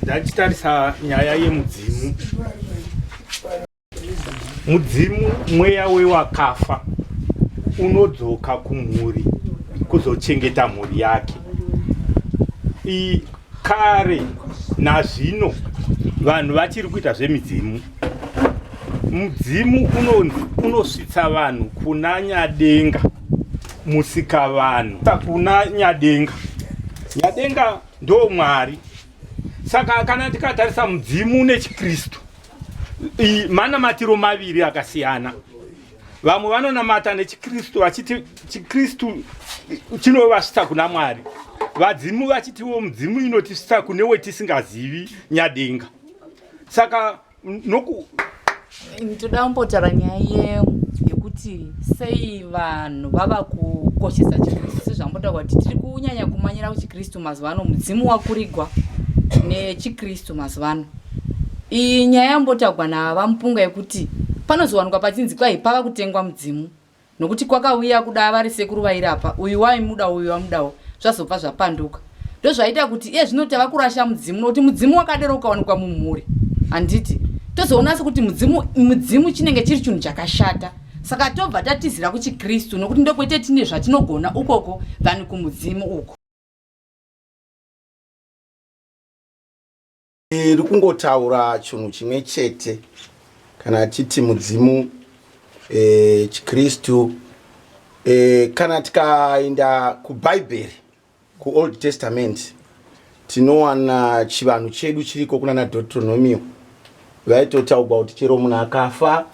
ndachitarisa nyaya yemudzimu mudzimu mweya wewakafa unodzoka kumhuri kuzochengeta mhuri yake I, kare nazvino vanhu vachiri kuita zvemidzimu mudzimu unosvitsa vanhu kuna nyadenga musikavanhu kuna nyadenga nyadenga ndo mwari saka kana tikatarisa mudzimu nechikristu manamatiro maviri akasiyana vamwe vanonamata nechikristu vachiti chikristu chinovasvitsa kuna mwari vadzimu vachitiwo mudzimu inotisvitsa kune wetisingazivi nyadenga saka noku ndoda kumbotaura nyaya ye yekuti sei vanhu vava kukoshesa chikristu sezvambotaura kuti tiri kunyanya kumanyira kuchikristu mazuva ano mudzimu wakurigwa nechikristu mazuva ano iyi nyaya yambotaurwa navamupunga yekuti panozowanikwa pachinzi kwai pava kutengwa mudzimu nokuti kwakauya kuda vari sekuru vairapa uyu waimuda uyu wamudawo zvazobva zvapanduka ndozvaita kuti iye zvino tava kurasha mudzimu nokuti mudzimu wakadero ukawanikwa mumhuri handiti tozoona sekuti mudzimu mudzimu chinenge chiri chinhu chakashata saka tobva tatizira kuchikristu nokuti ndokwete tine zvatinogona ukoko than kumudzimu uko Iri kungotaura chinhu chimwe chete kana titi mudzimu e, chikristu e, kana tikaenda kubhaibheri kuold testament tinowana chivanhu chedu chiriko kuna na deuteronomio vaitotaugwa kuti chero munhu akafa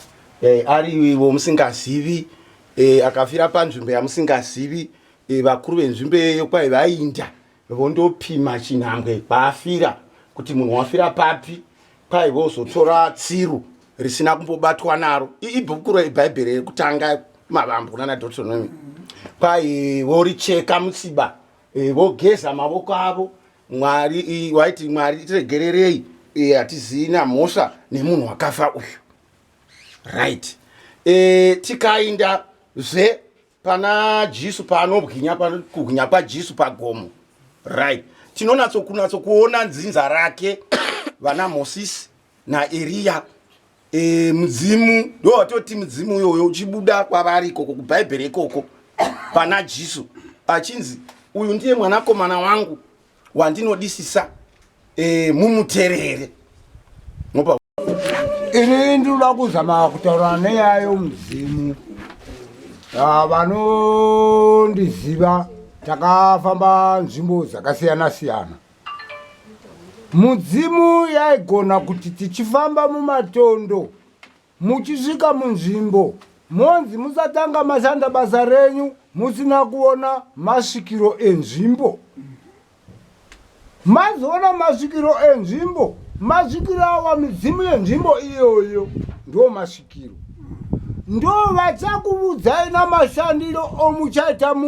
e, ari ivo musingazivi e, akafira panzvimbo yamusingazivi e, vakuru venzvimbo iyoyo kwai vainda vondopima chinhambwe kwaafira kuti munhu wafira papi kwai vozotora tsiru risina kumbobatwa naro ibhuku rebhaibheri rekutanga mavambo kunana deuteronomy kwai voricheka musiba e, vogeza mavoko avo mwari waiti mwari tiregererei e, hatizii namhosva nemunhu wakafa uyu right e, tikainda zve Pana Jesu paanobwinya kubwinya kwaJesu pagomo. Right. Tinonatso kunatso kuona nzinza rake vana Moses na Elia. E, mudzimu ndo watoti mudzimu uyoyo uchibuda kwavari ikoko kubhaibheri ikoko pana Jesu achinzi uyu ndiye mwanakomana wangu wandinodisisa e, mumuterere. ini ndinoda kuzama kutaura neyayo mudzimu ah, vanondiziva takafamba nzvimbo dzakasiyana siyana mudzimu yaigona kuti tichifamba mumatondo muchisvika munzvimbo monzi musatanga mashanda basa renyu musina kuona masvikiro enzvimbo Mazoona masvikiro enzvimbo, masvikiro awa midzimu yenzvimbo iyoyo ndo masvikiro. Ndo vachakuvudzai namashandiro omuchaita munhu.